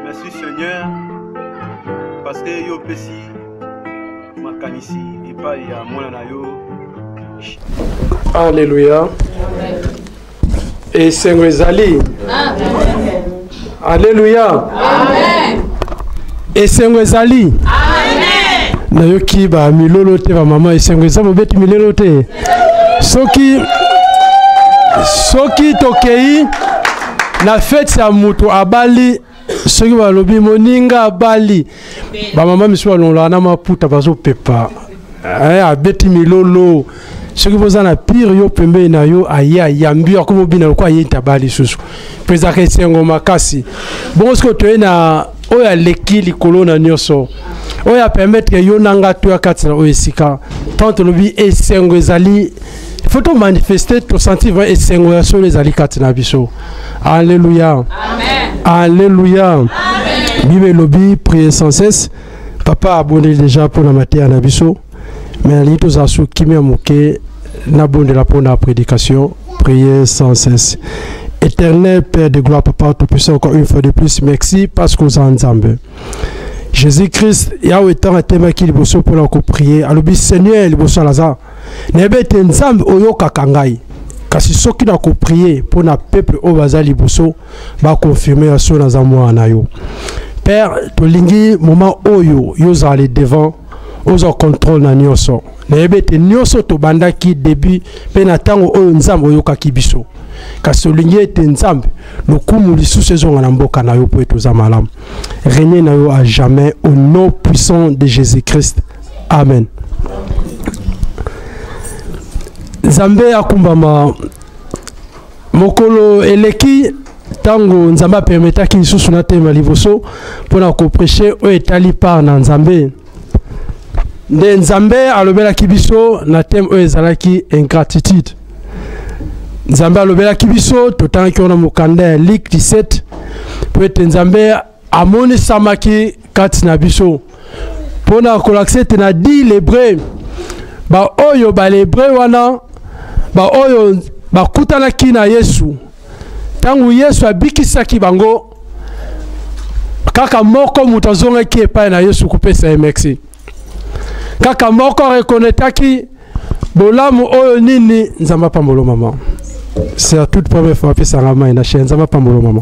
merci seigneur parce que yo opesi makanisi epai ya mwana na yo Alléluia. esengo ezali aleluya esengo ezali nayoki bamilolo te bamama esengo eza bobeti milelo te soki soki tokei na feti ya moto abali soki balobi moninga abali bamama misusu balongolaka na maputa bazopepa eh, abeti milolo soki boza na pire yo pembeni na yo aye ayambi yo akomi obina lokola aye ntaba lisusu mpo ezalaka esengo makasi bongo soki otoye na oyo aleki likolo na nyonso oyo apermetre yo na nga toya kati na oyo esika ntango tolobi esengo ezali faut to manifester to sentir vrai esengo ya solo ezali kati na biso alleluya alleluya bible elobi prier sans cesse papa abondeli déjà mpo na mateya na biso me nalingi tozala so kimia moke nabondela mpo na prédication prier sans cesse éternel père de gloire papa tout puissant encore une fois de plus merci parce que oza nzambe jésus christ yawe ntango atemaki liboso mpo na koprie alobi seigneur liboso alaza nayebi ete nzambe oyokaka ngai kasi soki nakoprie mpo na peuple oyo baza liboso bakonfirme ya soki naza mwana na yo père tolingi moment oyo yo ozala le devant ozwa contrôle na nyonso nayebi ete nyonso tobandaki début mpe na ntango oyo nzambe oyokaki biso kasi olingi ete nzambe lokumu lisusu ezonga na mboka na yo mpo ete oza malamu renie na yo à jamais au nom puissant de jésus christ amen nzambe akumbama mokolo eleki ntango nzambe apermetaki lisusu natema liboso mpo na kopreche oyo etali part na nzambe nde nzambe alobelaki biso na teme oyo ezalaki ingratitude nzambe alobelaki biso totangaki wana mokanda ya like 17 mpo ete nzambe amonisamaki kati na biso mpo na kolakisa ete na di lebre baoyo balebre wana baoyo bakutanaki na yesu ntango yesu abikisaki bango kaka moko moto azongaki epai na yesu kopesa ye merci kaka moko arekonetaki bolamu oyo nini nzambe apambolo mama c'est la toute première fois apesanga mai na chaine nzambe apambolo mama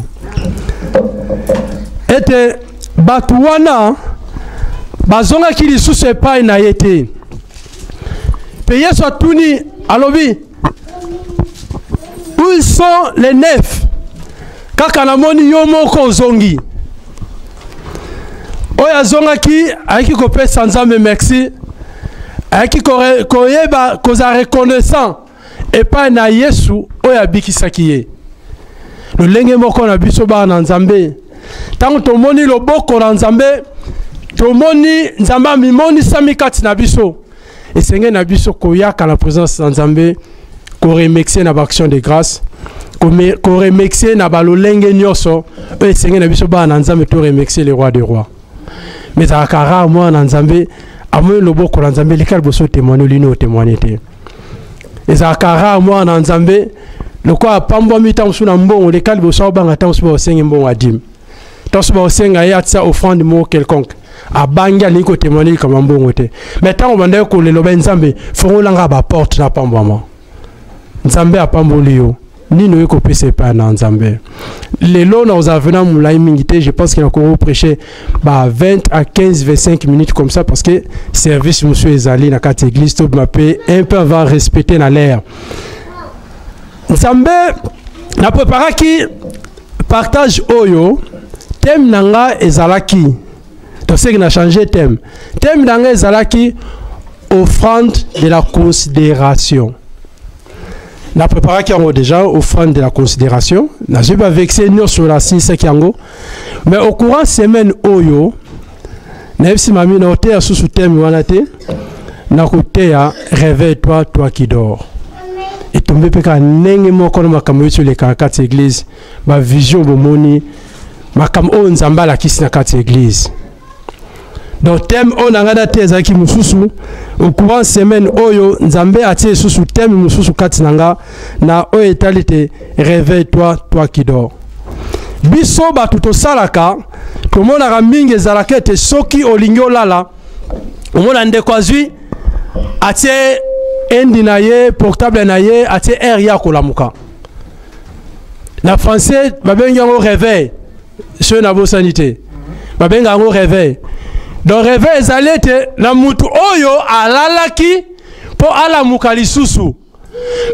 ete bato wana bazongaki lisusu epai na ye te mpe yesu atuni alobi où sont les nefs kaka namoni yo moko ozongi oyo azongaki ayaki kopesa nzambe merci ayaki koyeba kozala reconnaissant epai na yesu oyo abikisaki ye lolenge moko na biso bana na nzambe ntango tomoni loboko na nzambe tomoni nzambe amimonisami kati na biso esengeli na biso koyaka na présence na nzambe koremercie na baaction de grâce koremercie na balolenge nyonso oyo esengeli na biso bana na nzambe to remercie le roi de roi mais ezalaka rare mwana na nzambe amoni loboko na nzambe eleka liboso otemoine olini otemoine te ezalaka rare mwana na nzambe lokola apambwami ntango mosusu na mbongo leka liboso abanga ntango mosusu baosengi mbongo ya dime ntanso baosenga ye atisa offrande moko quelconque abangi alingi kotemoine likambo ya mbongo te mai ntango bandaki koleloba ye nzambe fongolanga baporte napambwama nzambe apamboli yo nini oye kopesa epai na nzambe lelo na kozala vena molai mingi te je pense que nakoko prêche ba 20 à 15 25 minutes comme ça parce que service mosusu ezali na kati église tobima mpe un peu va respecter na l'air nzambe napreparaki partage oyo thème na nga ezalaki toseki na change thème thème na nga ezalaki offrande de la considération na préparaki yango déjà offrande de la considération nazwi bavexe nyonso nasilisaki yango mais au courant semaine oyo nayebisi mami na oteya susu teme wana te nakoteya réveille toi toi qui dors etombe mpe kaka ndenge moko na makambo oyo tolekaka kati ya eglize bavision bomoni makambo oyo nzambe alakisi na kati ya eglize donc teme oyo na ngai nateya ezalaki mosusu au courant semaine oyo nzambe atie lisusu teme mosusu kati na nga na oyo etali te réveille toi toi qui dors biso bato tosalaka tomonaka mingi ezalaka ete soki olingi olala omona ndeko azwi atie endi na ye portable na ye atie aire ye akolamuka na français babengi yango réveil soki nabosani te babenga yango réveil donc réveil ezali ete na motu oyo alalaki mpo alamuka lisusu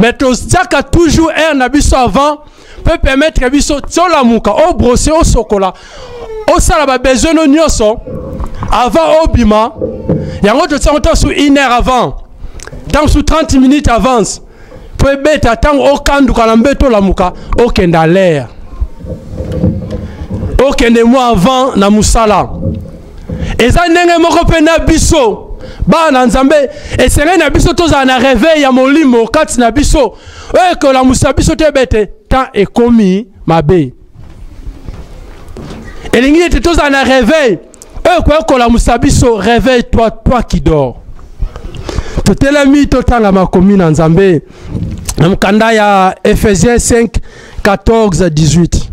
mais totiaka toujours aire na biso avant peut permettre biso tolamuka obrose oh, osokola oh, osala oh, babesoin no nyonso avant obima yango totiango ntango su une heure avant ntango su 30 minutes avance mpo ebeta ntango okanduka na mbeto olamuka okende alere okende mwa avant na mosala eza ndenge moko mpe na biso bana na nzambe esengeli na biso tozala na reveil ya molimo kati na biso oyo ekolamusa biso te ebe ete temps ekomi mabe elingi ete tozala na reveil oyo ekoki kolamusa biso reveil toi, toi qui dors totelemi totanga makomi na nzambe na mokanda ya ephésiens 5 14 18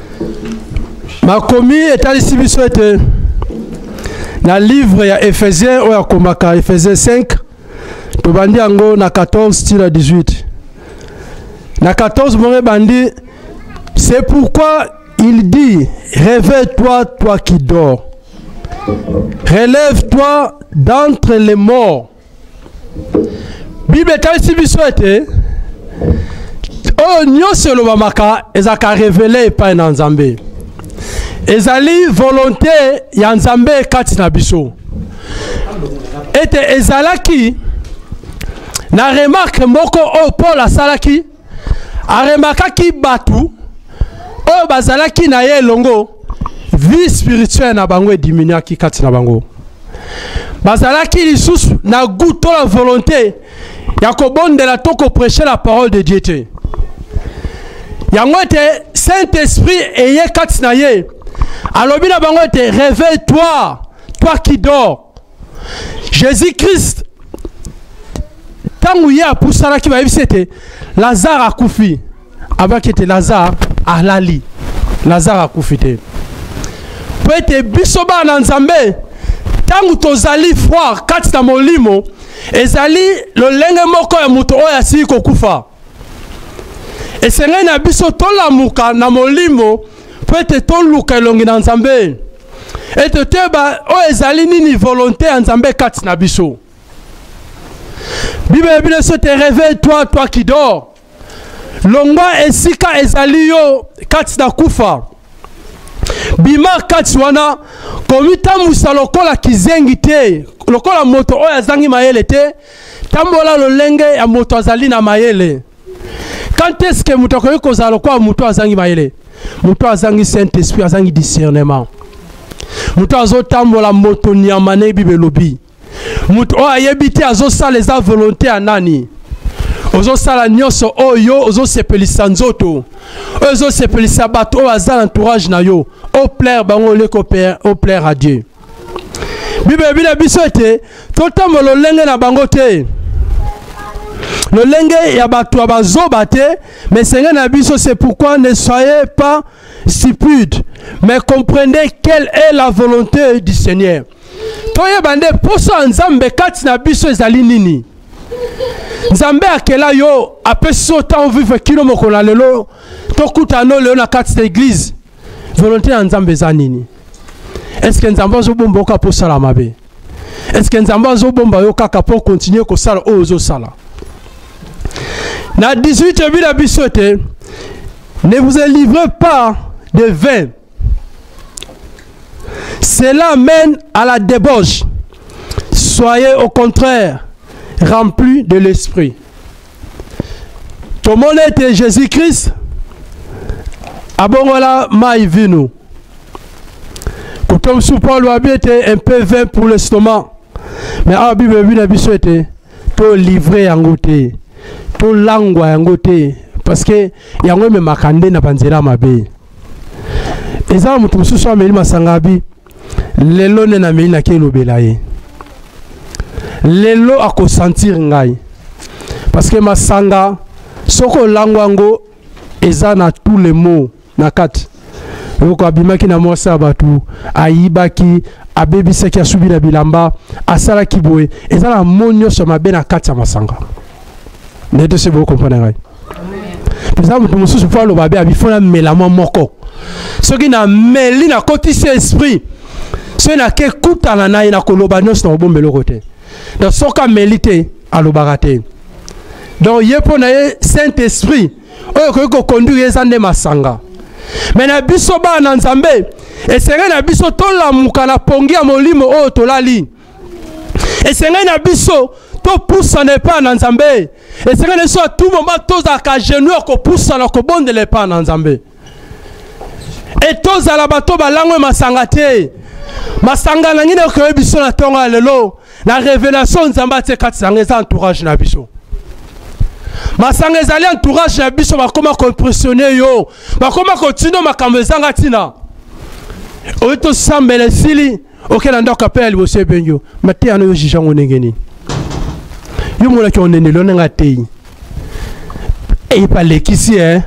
makomi etalisi biso ete na livre ya ephésien oyo akomaka ephésien 5 tobandi yango na 14 tina 18 na 14 mongo ebandi c'est pourquoi il dit réveille-toi toi qui dors relève-toi d'entre les morts bible etalisi biso ete oyo nyonso elobamaka ezalaka revele epai na nzambe ezali volonte ya nzambe kati na biso ete ezalaki na remarke moko oyo paul asalaki aremakaki bato oyo bazalaki na ye elongo vie spirituelle na bango ediminuaki kati na bango bazalaki lisusu na goût to la volonté ya kobondela to kopreche la parole de dieu te yango ete saint esprit eye kati na ye alobi na bango ete réveille toi toi qui dors jésus christ ntango ye apusanaki bayebisi ete lazare akufi abaki ete lazare alali lazare akufi te mpo ete biso bana na nzambe ntango tozali foire kati na molimo ezali lolenge moko ya moto oyo asili kokufa esengai na biso tolamuka na molimo mpo ete toluka elongi na nzambe ete toyeba oyo ezali nini volonte ya nzambe kati na biso biblia ebi biso te reveille toi toi qui dors longwa esika ezali yo kati na kufa bima kati wana komitambwisa lokola kizengi te lokola moto oyo azangi mayele te tambola lolenge ya moto azali na mayele quand est-ce que moto akoki kozala lokola moto azangi mayele moto azangi saint esprit azangi discernement moto azotambola moto nyama na bible elobi moto oyo ayebi te azosala eza volonté ya nani ozosala nyonso oyo ozosepelisa nzoto oyo ozosepelisa bato oyo aza na entourage na yo oplaire bango oleki oplaire à dieu bible elobi na biso ete totambola lolenge na bango te lolenge ya bato ya bazoba te mais esenge na biso c'est pourquoi ne soyez pas stupide mais comprenez quelle est la volonté du seigneur toyeba nde mposo ya nzambe kati na biso ezali nini nzambe akela yo apesi yo ntango vive kino mokolo na lelo tokutana lelo na kati na eglize volonté ya nzambe eza nini eske nzambe azobomba yo kaka mpo osala mabe eske nzambe azobomba yo kaka mpo okontinue kosala oyo ozosala na 18 ebi na biso ete ne vous livrez pas de vin cela mène à la débauche soyez au contraire rempli de l'esprit tomoni ete jésus christ abongola mai vino koto mosusu paulo abi ete un peu vin pour l'estomac mais awa bible ebi na biso ete tolivre yango te tolangwa yango te parce que yango ememaka nde na banzela mabe eza na moto mosusu ameli masanga abi lelo nde namei nake elobela ye lelo akosentir ngai parce que masanga soki olango yango eza na tout le mot na kati yoko abimaki na mwasi ya bato ayibaki abebisaki asubi na bilamba asalaki boye eza na mo nyonso ya mabe na kati ya masanga nde tosi bokompona ngai eza moto mosusu mpo aloba be abifo na mela mwa moko soki na meli nakotisi esprit soki nake kutana na ye nakoloba nyonso na kobomba eloko te donc soki ameli te alobaka te donc ye mpo na ye saint esprit oyo ekoki kokonduire ye eza nde masanga me na biso bana na nzambe esengeli na biso tolamuka na pongi ya molimo oyo tolali esengai na biso topusana epai na nzambe esengai na biso ya tout moment tozalaka genou ya kopusana kobondela epai na nzambe e tozala bato balangwe masanga te masanga na nini ekoyebi biso na ntongo ya lelo na révélation nzambe atie kati na yango eza entourage na biso masanga ezali entourage na biso bakoma koimpressionne yo bakoma kotindo makambo ezanga ntina oyo tosambela esili okela ndako apela liboso ebengi yo mateya no yo juge yango ndenge nini yo monaki ondendeli yo ndenge ateyi epalekisi e eh?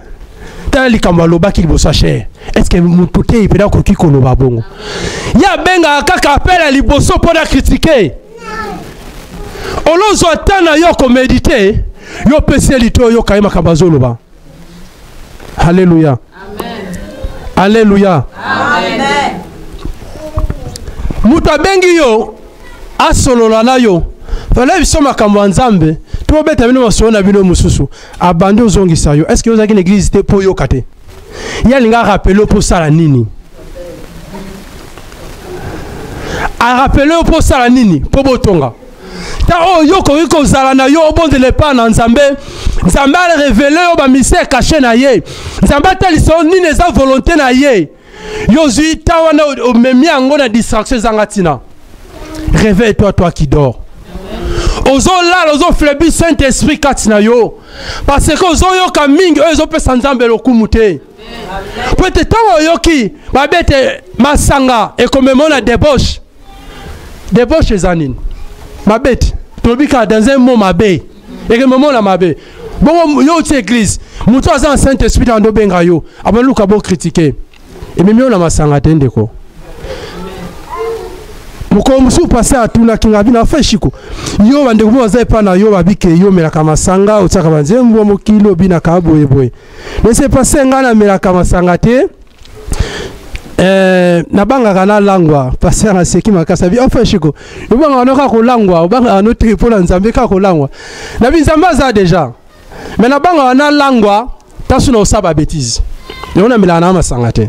tala likambo alobaki liboso ya chere estce moto te mpena akoki koloba bongo ye abengaka kaka apela liboso mpo na kritike olozwa ntan na yo komedite yo pesi ye lito oyoka ye makambo azoloba Alléluia. Alléluia. Moto abengi yo asolola na yo fala biso makambo ya nzambe tobeta bino masolo na bino mosusu abandi ozongisa yo estce ozalaki na eglize te mpo oyoka te ye alinga arapele mpo osala nini arapele yo mpo osala nini mpo botonga ta oyo yo okoki kozala na yo obondela epai na nzambe nzambe arevele yo bamisere kashe na ye nzambe atalisa yo nini eza volonté na ye yo ozwi ta wana omemi yango na distraction ezanga ntina réveille toi toi qui dors ozolala ozoflebi saint esprit kati na yo parce que ozoyoka mingi oyo ezopesa nzambe lokumu te mpo ete ntango oyoki babete masanga ekomema na debauche debauche eza nini mabe ti tolobi kaka dans un mot mabe ekememona mabe bongo yo outi église moto aza na saint esprit na ndobenga yo abaluka bokritike ememi yo na masanga te ndeko mokolo mosusu pase atunaki ngai bino afa eshiko yo bandeko moko baza epai na yo babike yo omelaka masanga otiaka banzembo mokili obinaka boyeboye nese pase ngai namelaka masanga te Eh, nabangaka nalangwa paster naseki makasi abi ofa shiko obangaka no kaka kolangwa obangaka no te mpo na nzambe kaka kolangwa nabi nzambe aza deja me nabangaka nalangwa ntanso na osala babetise yango namelaka na masanga te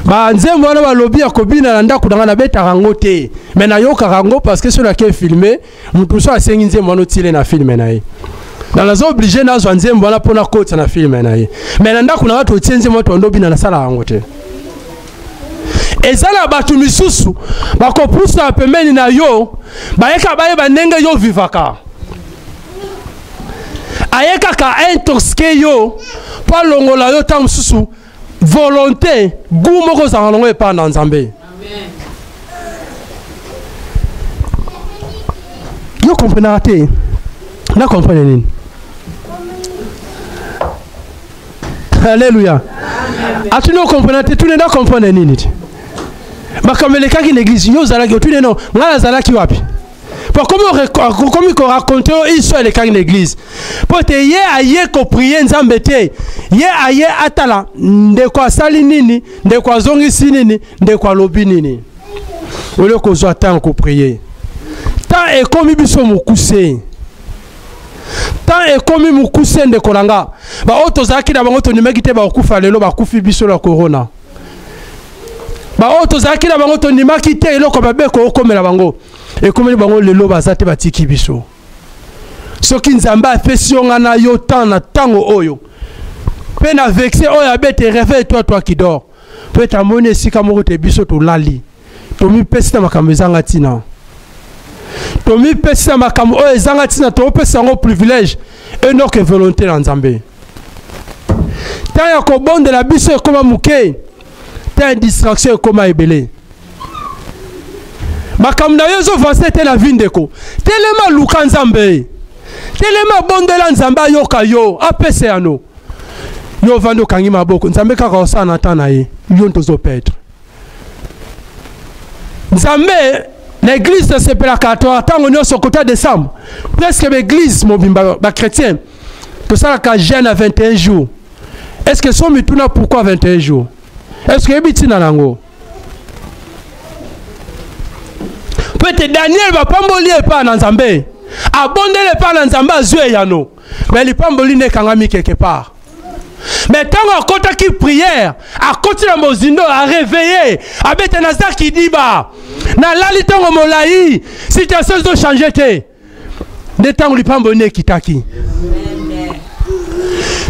banzembo wana balobi ya kobina na ndako na ngai nabetaka yango te me nayokaka yango parce que so nake filme moto mosusu asengi nzembo wana otile na filme na ye na naza oblige nazwa nzembo wana mpo nakotisa na filme na ye mai na ndako na ngai totie nzembo wana toando bina nasala yango te eza na bato misusu bakopusa pembeni na yo bayeka bayeba ndenge yo vivaka aye kaka intoxike yo mpo alongola yo ntango mosusu volonté gu moko ozalaka nango epai na nzambe yo komprenaka te na komprene nini alleluya atuni okomprena te tuni na komprene nini te makambo elekaki na eglise yo ozalaki otuni no ngai nazalaki wapi mpo akomi koraconte yo iso elekaki na eglize mpo te ye aye koprie nzambe te ye aye atala ndeko asali nini ndeko azongisi nini ndeko alobi nini olie kozwa ntango koprie ntan ekomi biso mokuse ntan ekomi mokuse ndeko na nga baoyo tozalaki na bango tondimaki te bakokufa lelo bakufi biso na korona baoyo tozalaki na bango tondimaki te eloko mabe ekokomela bango ekomeli bango lelo baza te batiki biso soki nzambe apesi yo ngai na yo temps na ntango oyo mpe na vexe oyo abete reveille toi toi qui dort mpo ete amoni esika moko te biso tolali tomipesi na makambo ezanga ntina tomipesi na makambo oyo ezanga ntina topesa yango privilège enoke volonté na nzambe ntango ya kobondela biso ekoma moke ntango ya distraction ekoma ebele makambo na yo ezovanse te na vi ndeko telema luka nzambe telema bondela nzambe ayoka yo apesa yano yo ovandi okangi maboko nzambe kaka osala na ntan na ye yo nto ozopetre nzambe na eglize tosepelaka ntango nyonso kota decembre presque baeglize mobimba bachrétien ba tosalaka jeune ya 21 jours est ce que so mituna pourquoi 21 jours est ce que oyebi ntina na yango mpo ete daniel bapamboli epai na nzambe abondeli epai na nzambe azwi eyano me lipamboli nde ekangami quelque part me ntango akotaki priere akoti na mozindo areveille abete naza kidiba nalali ntango molai situation ezochange te nde ntango lipamboli nde ekitaki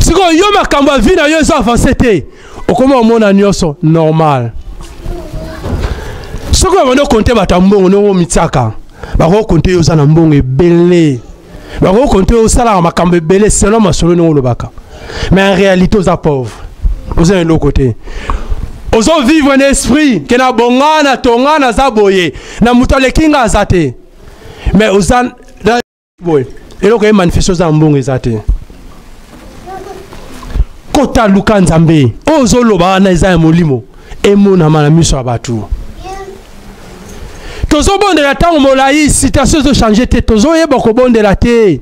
sikoyo yo makambo ya vi na yo eza avance te okoma omona nyonso normal soki babandi okonte bato ya mbongo ndenge omitiaka bakoki konte yo oza na mbongo ebele bakoki konte yo osalaka makambo ebele selon masolo ndenge olobaka mais en réalité oza pauvre oza na eloko te ozovivre na esprit ke na bonga na tonga naza boye na moto aleki nga aza te mais oza boye eloko ye manifeste oza na mbongo eza te kota luka nzambe oyo ozoloba wana eza ya molimo emonama na miso ya bato tozobondela ntango molai situation ezochange te tozoyeba kobondela te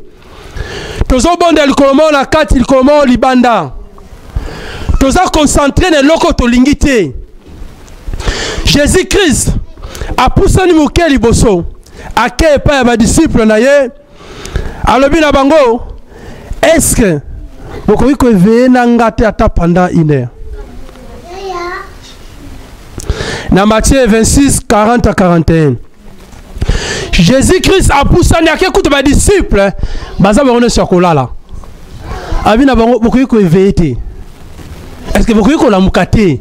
tozobonda likolo moko na kati likolo moko libanda toza concentre na eloko tolingi te jésus christ apusani moke liboso ake epai ya badisiple na ye alobi na bango eske bokoki koeveye na nga te ata pendant une heure na matthieu 26 40 à 41 jésus christ apusani ake kuta badisciple baza bango nyonso ya kolala abi na bango bokoki koeveye te estce bokoki kolamuka te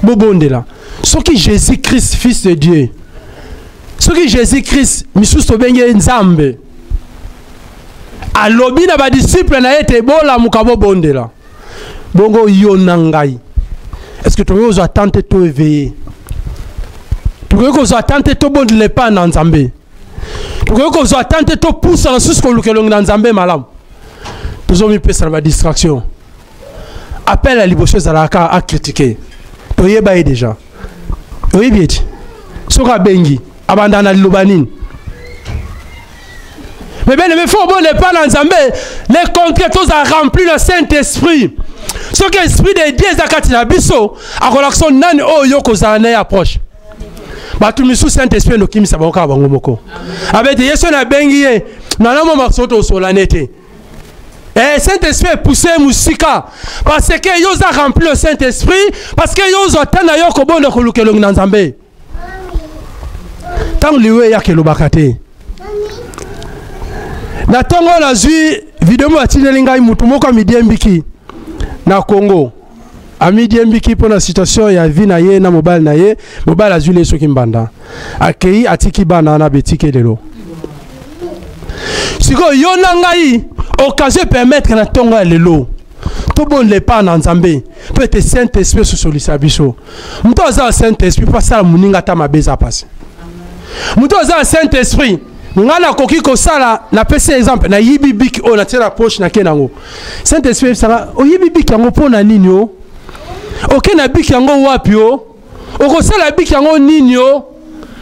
bobondela soki jésus christ fils de dieu soki jésus christ misusu tobengi ye nzambe alobi na badisciple na ye ete bolamuka bobondela bongo yo na ngai est ce que tokoki kozwa temps te to éveille tokoki kozwa temps te tobondela epai na nzambe tokoki kozwa temps te topusa na susu koluka elongi na nzambe malamu tozomipesa na badistraction appel ya liboso ezalaka akritike toyeba ye déjà oyebi ete soki abengi abanda na liloba nini Mais bien aimé, faut bonne pas dans Zambé. Les concrets, tous à rempli le Saint-Esprit. Ce que l'Esprit de Dieu est à Katina Bisso, à relation nan o yoko zané approche. bato misusu saint esprit endokimisa bango kaka bango moko abete yesu na abengi ye nalamo makoso tosola ne te Eh, Saint-Esprit est poussé musika parce que yo za rempli le Saint-Esprit parce que yo zo tana yo kobondo kolukelongi na Nzambe. ntango liwa eyaka elobaka te na ntongo oyo nazwi video moko atindeli ngai moto moko amidiembiki na congo amidiembiki mpo na situation ya vie na ye na mobali na ye mobali azwi le soki mbanda akei atiki bana wana betike lelo sikoyo yo na ngai okazio epermettre na ntongo ya lelo tobondela epai na nzambe mpo ete saint esprit esosolisa biso moto aza na saint esprit mpo asala moninga ata mabe eza mpasi moto aza na saint esprit ngai nakoki kosala napesi exemple nayibi biki oyo natie na poche nake nango saint esprit ebisaka oyibi biki yango mpo na nini o oke na biki yango wapi o okosala biki yango nini o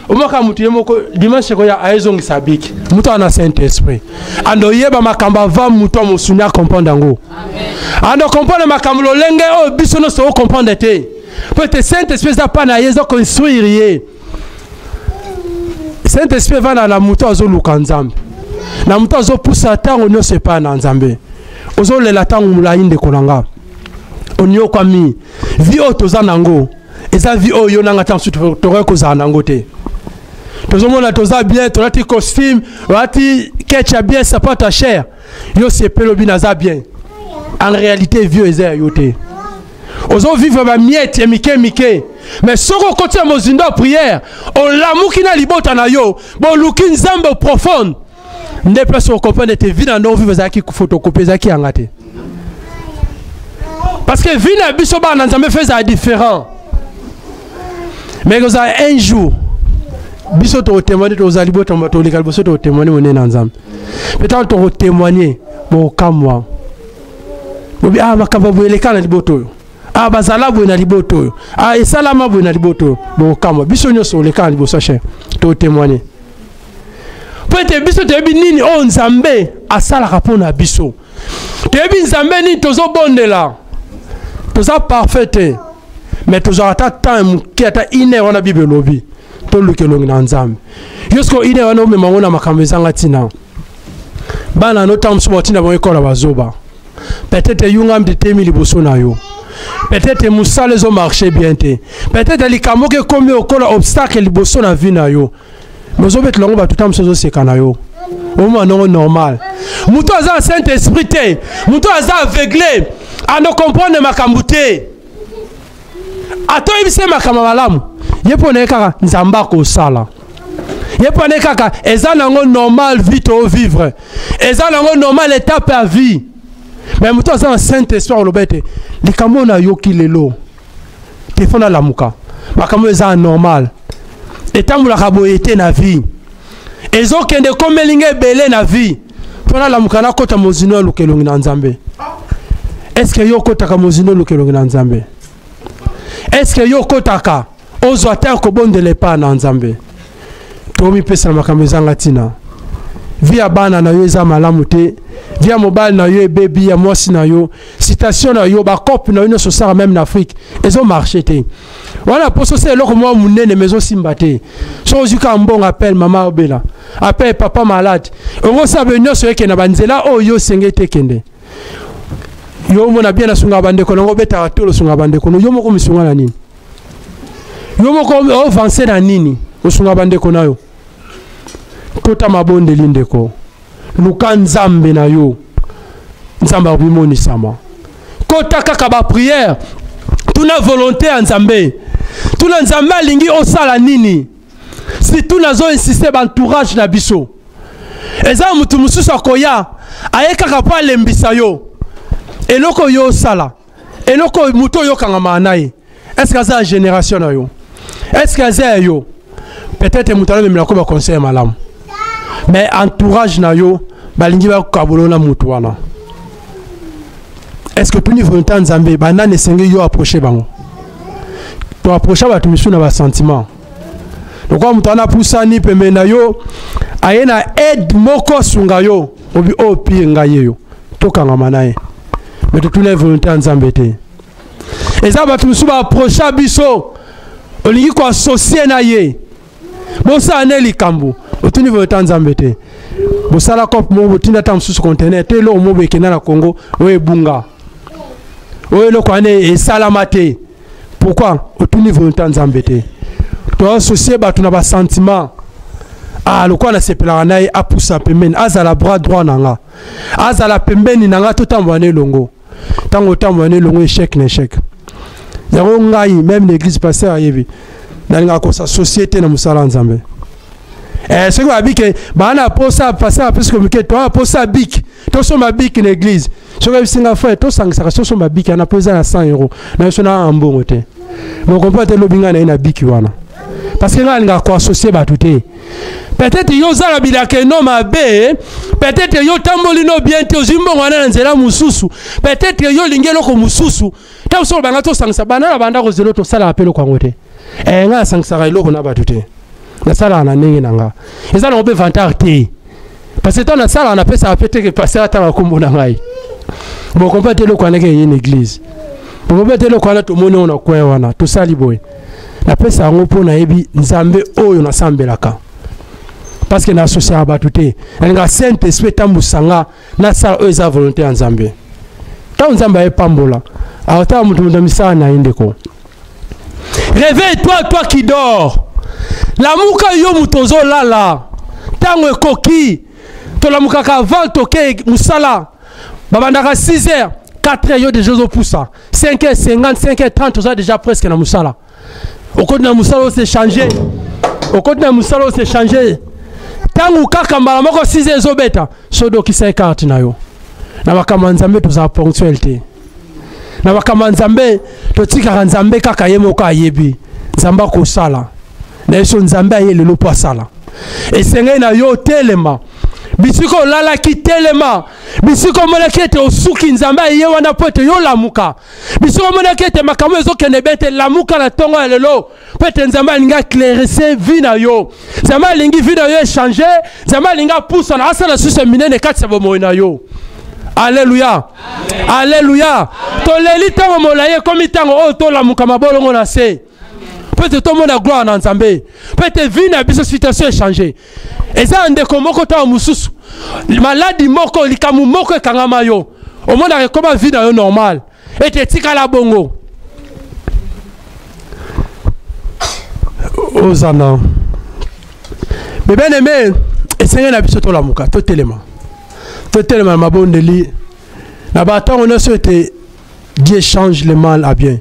omaka moto ye moko dimanche ekoya ayezongisa abiki moto ana saint esprit ando oyeba makambo ava moto amosuni akomprendre yango ando okomprendre makambo lolenge oyo biso nyonso okomprendre te mpo ete saint esprit eza mpa na ye eza koinstruire ye saint esprit evanda na moto azoluka nzambe na moto azopusa ntango nyonso epai na nzambe ozolela ntango molai ndeko na nga onyokwami vi oyo toza na yango eza vie oyo yo na nga ntango susu tokoki kozala na yango te tozomona toza bien tolati costume olati kecha bien sapata cher yo sepeli obi naza bien en réalité vieux eza ya yo te ozovivre bamiete ya mike mike mais soki okoti ya mozindo ya prière olamuki na libota na yo boluki nzambe profonde nde place okomprendre ete vi na ndongo vive ezalaki photocopie ezalaki yanga te parce que vi na biso bana na nzambe fe ezala différent mais ekozala un jour biso tokotemoigne tozali botamba toleka liboso tokotemoigne monene na nzambe mpe ntango tokotemoigne bokamwa bobi ah makambo boye eleka na libota oyo ah bazala boye na libota oyo ah esalama boye na libota oyo bokamwa biso nyonso oleka na liboso cher tokotemoigne mpo ete biso toyebi nini oyo nzambe asalaka mpo na biso toyebi nzambe nini tozobondela toza parfait te mais tozwaka ata temps moke ata ine wana bible elobi toluka elongi na nzambe yo siko ine wana omema yango na makambo ezanga ntina bana no ntango mosusu batinda bango ekola bazoba peut-être eyungami te temi liboso na yo peut-être mosala ezomarche bien te peut-être likambo oke ekomi okola obstacle liboso na vie na yo mais ozobetela yango bato ta mosusu ozoseka na yo omona ndongo normal moto aza na saint esprit te moto aza aveugle anokomprendre makambo te ata oyebisi ye makambo malamu ye mpo na ye kaka nzambe akosala ye mpo na ye kaka eza nango normal vie to vivre eza nango normal étape ya vie me moto aza na saint esprit oloba ete likambo oyo nayoki lelo te fo nalamuka makambo eza normal etambolaka boye te na vie ezokende ekomeli nga ebele na vie mpo nalamuka nakota mozino ya lukelongi na nzambe eske yo okotaka mozino lukelongi na nzambe eske yo okotaka ozwa te kobondela epai na nzambe tomipesa na makambo ezanga ntina vi ya bana na yo eza malamu te vi ya mobali na yo ebebi ya mwasi na yo citation na yo bacope na yo nyonso osala meme na afrique ezomarche te wana poso se eloko mwa monene ma ezosimba te so ozwi kaka mbongo apele mama obela apele papa malade ongosala be nyonso eke na banzela oyo yo osenge te kende yo omona bien asunga bandeko nango obetaka tolo osunga bandeko no yo moko misunga na nini yo moko ovanse na nini osunga bandeko na yo kota mabondeli ndeko luka nzambe na yo nzambe akomonisama kota kaka bapriere tuna volonté ya nzambe tuna nzambe alingi osala nini situ nazo insiste baentourage na biso eza motu mosusu akoya aye kaka mpo alembisa yo eloko yo osala eloko oyo moto oyokanga maa na ye estce aza ya génération na yo estce aza ya yo peut-être moto alobemela ko baconseil ya malamu mais entourage na yo balingi bakabolo na moto wana est ce que tuni volonté ya nzambe banani esengeli yo approche bango toapprocha bato misusu na basentiment lokola moto wana apusani pembeni na yo aye na aide moko asunga yo obi oyo oh, pire ngai yeyo tokangama na ye me totuna ye volonté ya nzambe te eza bato mosusu baaprocha biso olingi koasosie na ye bosala nde likambo otuni volonté ya nzambe te bosala cope moko botinda ata mosusu contener te eloko moko ekenda na congo oyo ebunga oyo eloko wana esalama te pourquoi otuni volonté ya nzambe te toasocie bato na basentiment ah lokola nasepelaka na ye apusa pembeni azala bras droit na nga azala pembeni na nga totambola na elongo ntango otambola na elongo echec na echec yango ngai meme na église pasteur ayebi nalingaka kosasocie te na mosala ya nzambe eh, soki babike baa na posa pasteur apesi komike toa posa bik tosomba bik na église soki ayebisi ngai frère tosangisaka soso mabiki wana mpo eza ya 100 euro na biso na aa mbongo te mokompo ate elobi ngai na ye na biki wana parce que ngai alingaka koassocie bato te peut-être yo oza na bilaka eno mabe peut-être yo otamboli no bien te ozwi mbongo wana na nzela mosusu peut-être yo olingi eloko mosusu ntango soki obanga tosangisa bana na bandako zelo tosalaka mpe eloko yango te eh, ngai nasangisaka eloko na bato te nasalaka na ndenge na nga eza nango mpe vantard te parce que ntango nasalaka napesaka mpe teke paster atanga nkombo na ngai bokompa te eloko wana eke eye na église bokompa te eloko wana tomoni yango na coin wana tosali boye napesa yango mpo nayebi nzambe oyo nasambelaka parce que naasosiaka bato te nalingaka saint esprit etambwisa nga nasala oyo eza volonté ya nzambe ntango nzambe ayepambola aotala moto moto misala na ye ndeko Réveille toi toi qui dors. Lamuka yo moto ozolala. Tango ekoki tolamukaka avant toke musala. Babandaka 6 heures 4 heures yo déjà ozopusa 5 heures 50 5 heures 30 oza déjà presque na musala. Okoti na musala ose changer. Okoti na musala ose changer. Tango kaka mbala moko 6 heures ezobeta sodokisa ekarte na yo. Na makambo ya Nzambe tozala ponctuel te. na makambo ya nzambe totikaka nzambe kaka ye moko ayebi nzambe akosala na yeso nzambe aye lelo mpo asala esengeli na yo otelema bisika olalaki telema bisika omonaki ete osuki nzambe aye wana mpo ete yo lamuka bisika omonaki ete makambo ezokende be te lamuka na ntongo ya lelo mpo ete nzambe alingi aclairese vi na yo nzambe alingi vi na yo echange nzambe alingi apusana asala susu ya minene kati ya bomoi na yo aleluya aleluya toleli ntango molai ekomi ntango oyo tolamuka mabolongo na se mpo ete tomona gloire na nzambe mpo ete vi na biso situation echange eza ya ndeko moko ntango mosusu maladi moko likambo moko ekangama yo omonaka ekoma vi na yo normale ete etikala bongo oza na me bien aime esengeli na biso tolamuka totelema totelema na mabondeli na bantango nyonso ete dieu change le mal à bien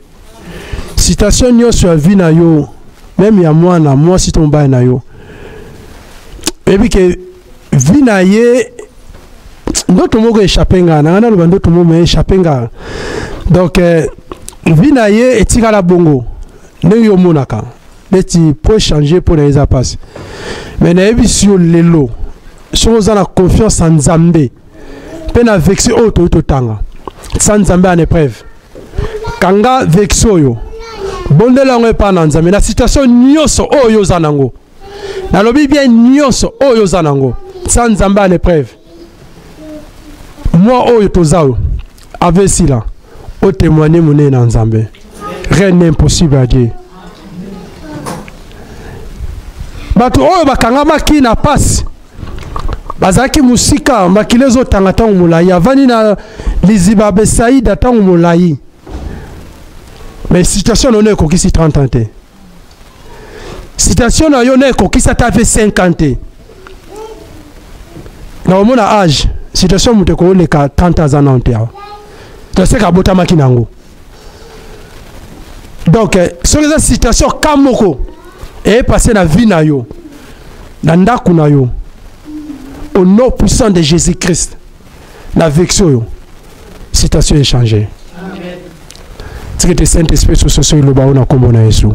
citation nyonso ya vie na yo meme ya mwana mwasi to mobali na yo oyebi ke vie na ye ndoto moko echappe nga nanga naloba ndoto moko me echappe nga donc euh, vie na ye etikala bongo ndenge yo omonaka neti po echange mpo na ye eza mpasi me nayebisi yo lelo soki oza na confiance ya nzambe mpe na vexe oyo toyei totanga sa nzambe en épreuve kanga vexe oyo bondela yango epai na nzambe na situation nyonso oyo oza nango nalobi bien nyonso oyo oza nango sa nzambe a l'épreuve mwa oyo toza oyo ave esila otémoigne monene na nzambe rien n'est impossible à dieu bato oyo bakangamaki na mpasi bazalaki mosika makila ezotanga ntango molai avandi na liziba besaida ntango molai mais situation nono ekokisi 30 ans te citation na yo na ekokisi ata mpe 5 ans te na omona age citation moto ekoleka 30 ans aza nano te awa toseka abotamaki na yango donc eh, soki eza citation ka moko eyepase na vie na yo na ndako na yo au nom puissant de jésus christ na vexi oyo citation echange tiki te saint esprit sososo eloba oyo na nkombo na yesu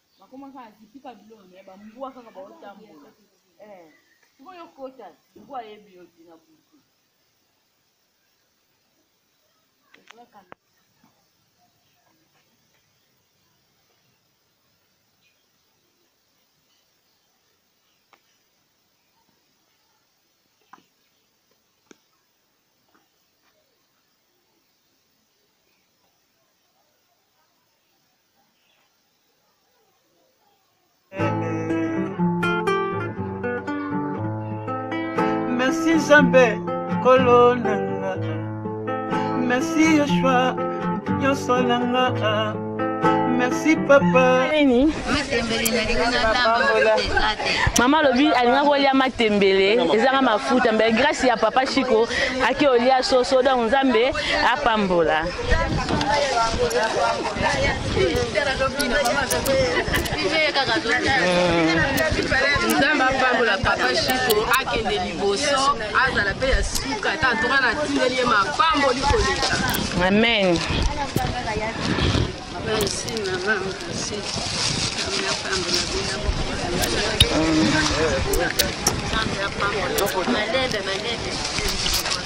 bakoma kaka zipika biloko naye bambwa kaka baotambola eh, sikoyo okota mbwa ayebi yo te na butu merci nzambe kolo na nga merci yoshua nyonso na nga merci papa nini mama alobi alinga kolia matembele ezanga mafuta mbe grâce ya papa chiko ake olia soso donc nzambe apambola nzambe apambola papa shiko akende liboso azala mpe ya suka ata ntoka na tindeli ye mapamboli koleka amen merci mama merci Thank you.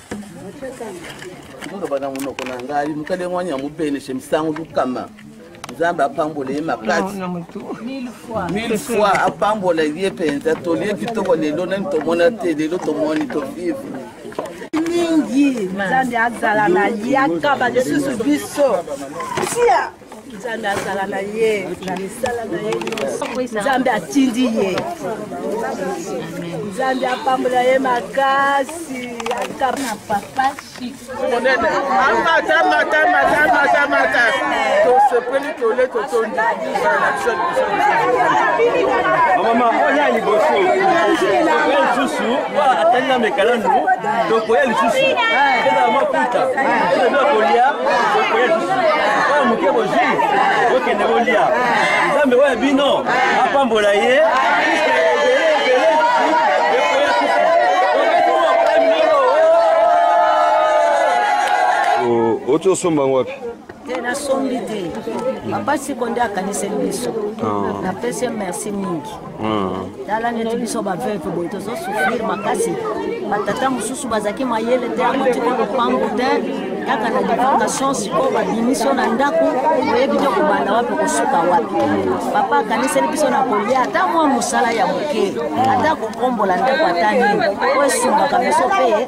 oloba na monoko na ngai mokali yango wani ya mobenese misango lukama nzambe apambola ye makasi mille fois apambola ye mpenza tolie kitoko lelo nani tomona te lelo tomoni tovivre mingi nzambe azala na ye akaba lisusu biso tia nzambe azala na ye na misala na ye nyonso nzambe atindi ye nzambe apambola ye makasi akana papa monene amata mata mata mata mata tosepeli tole totondi mama oya liboso atali na mekalandu tokoya lisusu ezala makuta ezala kolia tokoya lisusu oyo moke bozwi bokende bolia nzambe oyo ya bino apambola ye oti osomba yango wapi te nasombi te papa siko nde akaniseli biso ah. napesi ye merci mingi ah. tala neti biso baveuve boye tozosouffrir makasi batata mosusu bazalaki mayele te yango tika lopango te kaka na deportation sikoyo babimisi yo na ndako oyebi te kobanda wapi kosuka wapi papa akaniseli biso na kolia ata mwa mosala ya moke ata kokombola ndako ata nini oyo esungaka biso mpe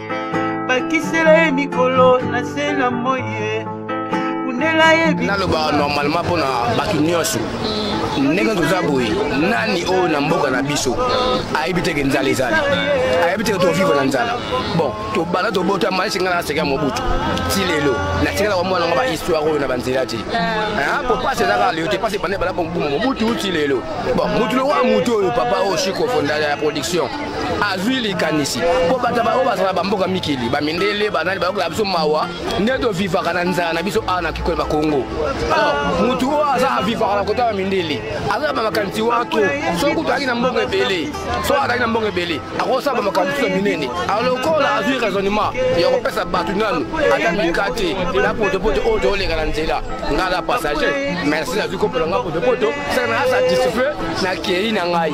bakisela ye mikolo na se na moi ye kundela ye nalobaka normalement mpo na bato nyonso ndenge toza boye nani oyo na mboka na biso ayebi teke nzala ezali ayebi teke tovivre na nzala bon tobanda tobota maisi ngai naseka mobutu ti lelo natikalaka mwana nga bahistoire oyo na banzela te po pasi eza kaka leo te pasi ebanda ebanda kobuma mobutu ti lelo bon motu lokola motu oyo papa oyo shikofondala ya production azwi likanisi mpo bato baoyo bazala bamboka mikili bamindele banani bayokela biso mawa nde tovivaka na nzala na biso awa na kikolo bakongo motu oyo aza avivaka na kota ya mindele aza bamakanisi wato soki kutu azalaki na mbongo ebele soki azalaki na mbongo ebele akosala bamakambo mosusu ya minene alokola azwi raisonnement ya kopesa bato nanu ata mikate na potopoto oyo tooleka na nzela ngai na passager merci nazwi kopela ngai potopoto saka na asatisfait na kei na ngai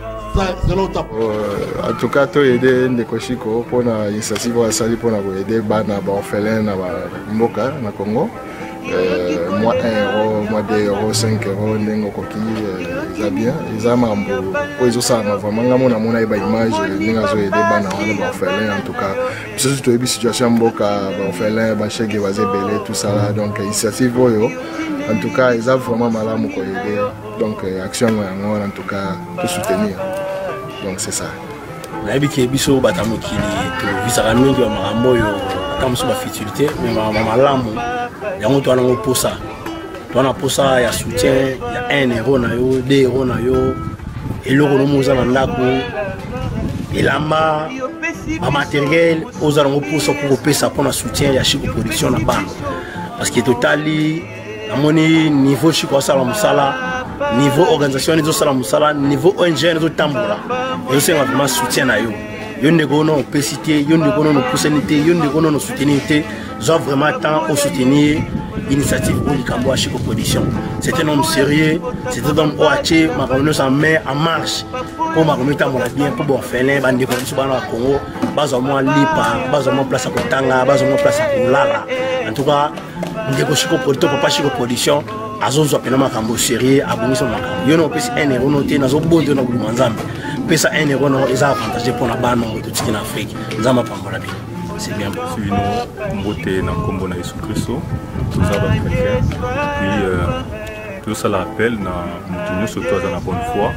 Euh, en tout cas to aide ndeko shiko mpona initiative oyo asali mpona koaide bana baorphelin na mboka na congo euh, mwa 1 euro mwa 2 euro 5 euro ndenge okoki euh, eza bien eza makambo oyo ezosalama vraiment ngai mona mona ye baimage ndenge azoaide bana wana baorphelin en tout cas biso toyebi situation ya mboka baorphelin bashege baza ebele tosala donc initiative oyo en tout cas eza vraiment malamu koyede donc euh, action yango yango wana en tout cas tosoutenir donc c'est ça nayebi ke biso bata mokili tovisaka mingi ya makambo oyo ata mosusu bafutilité me makambo malamu yango towana yango mposa towana mposa ya soutien ya 1 euro na yo 2 euro na yo eloko nomo oza na ndako elamba bamateriel oza nango mposa mpo kopesa mpo na soutien ya chico production na bana parce que totali namoni niveau chiko asala mosala niveau organisation wana ezosala mosala niveau ong wana ezotambola ezosenga vraiment soutien na yo yo ndeko ono opesi te yo ndeko ono opusani te yo ndeko ono osoutenir te zwa vraiment temps osoutenir initiative oyo likambo ya chiko production c'est un homme sérieux c'est un homme oyo atie makambo nyonso en mai en marche mpo makambo etambola bien mpo baorphelin bandeko na biso bana ya congo bazwa mwa lipa bazwa mwa place ya kotanga bazwa mwa place ya kolala en tout cas ndeko shiko polito papa shiko production azozwa mpena makambo sérieux abongisa makambo yo na opesi un euro no te nazobondo na kolima nzambe pesa un euro no eza avantage mpo na bana oyo totiki na afrike nzambe apambola bino c'est bien bino mbote na nkombo na yesu kristo toza bachrétien puis euh, tozosala appel na moto nyonso to aza na bonne foi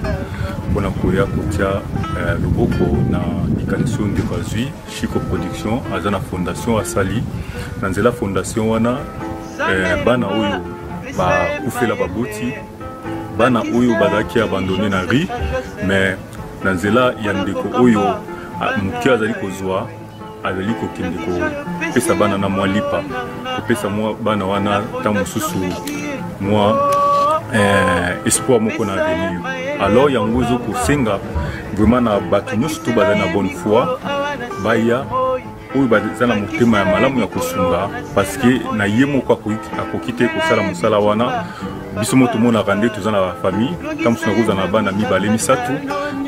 mpona koya kotya euh, loboko na likanisi oyo ndeko azwi Chico Production aza na fondation asali na nzela fondation wana eh, bana oyo bakufela baboti bana oyo bazalaki abandone na ri mais na nzela ya ndeko oyo ah, moke azali kozwa azali kokende kopesa bana na mwa lipa kopesa mwa bana wana ntango mosusu mwa eh, espoir moko na avenir alors yango ezo kosenga vraiment na bato nyonso to bazali na bonne foi baya oyo baza na motema ya malamu ya kosunga parce que na ye moko akoki te kosala mosala wana biso mo tomonaka nde toza na bafamille ntango mosusu nakozala na bana mibale misato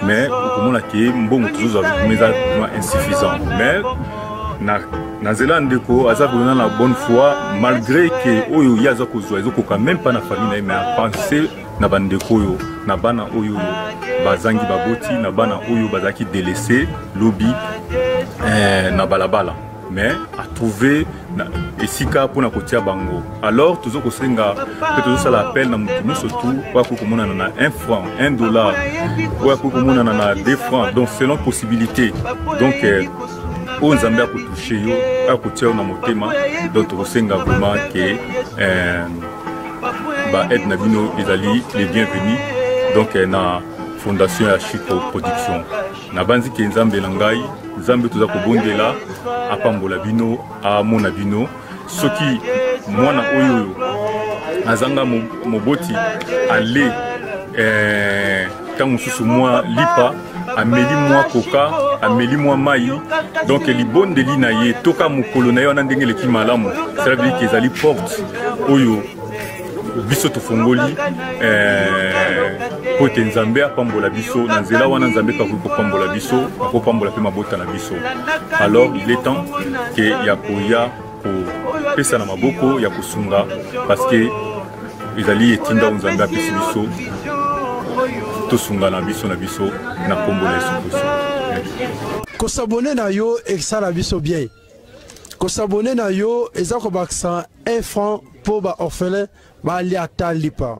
mais okomona ke mbongo tozozwa eza insuffisant mais na na nzela ndeko aza kolona na bonne foi malgré ke oyo ye aza kozwa ezokoka meme pas na famille na ye mais apense na bandeko oyo na bana oyo bazangi baboti na bana oyo bazalaki delese lobi eh, na balabala mais atrouve esika mpona kotia bango alors tozo kosenga mpe tozosala appel na moto nyonso tu oyo akoki komonana na 1 franc 1 dollar oyo akoki komonana na 2 franc donc selon possibilité donc eh, oyo nzambe akotouche yo akotia yo na motema donc tokosenga vraiment ke eh, baaide na bino ezali le bienvenu donc eh, na fondation ya chico production nabanzi ke nzambe na ngai nzambe toza kobondela apambola bino amona bino soki mwana oyo oyo azanga moboti ale eh, ntango mosusu mwa lipa ameli mwa koka ameli mwa mai donk libondeli na ye toka mokolo na ye wana ndenge eleki malamu cela veut dire ke ezali porte oyo biso tofungoli eh, mpo ete nzambe apambola biso na nzela wana nzambe mpe akoki kopambola biso akopambola mpe mabota na biso alors il est temps ke ya koya kopesana maboko ya kosunga parce que ezali etinda oyo nzambe apesi biso tosungana biso na biso na nkombo na yesu kristo kosabone na yo esala biso bien Ko s'abonner na yo eza ko bakisa 1 franc pour ba orphelins ba lia ta lipa.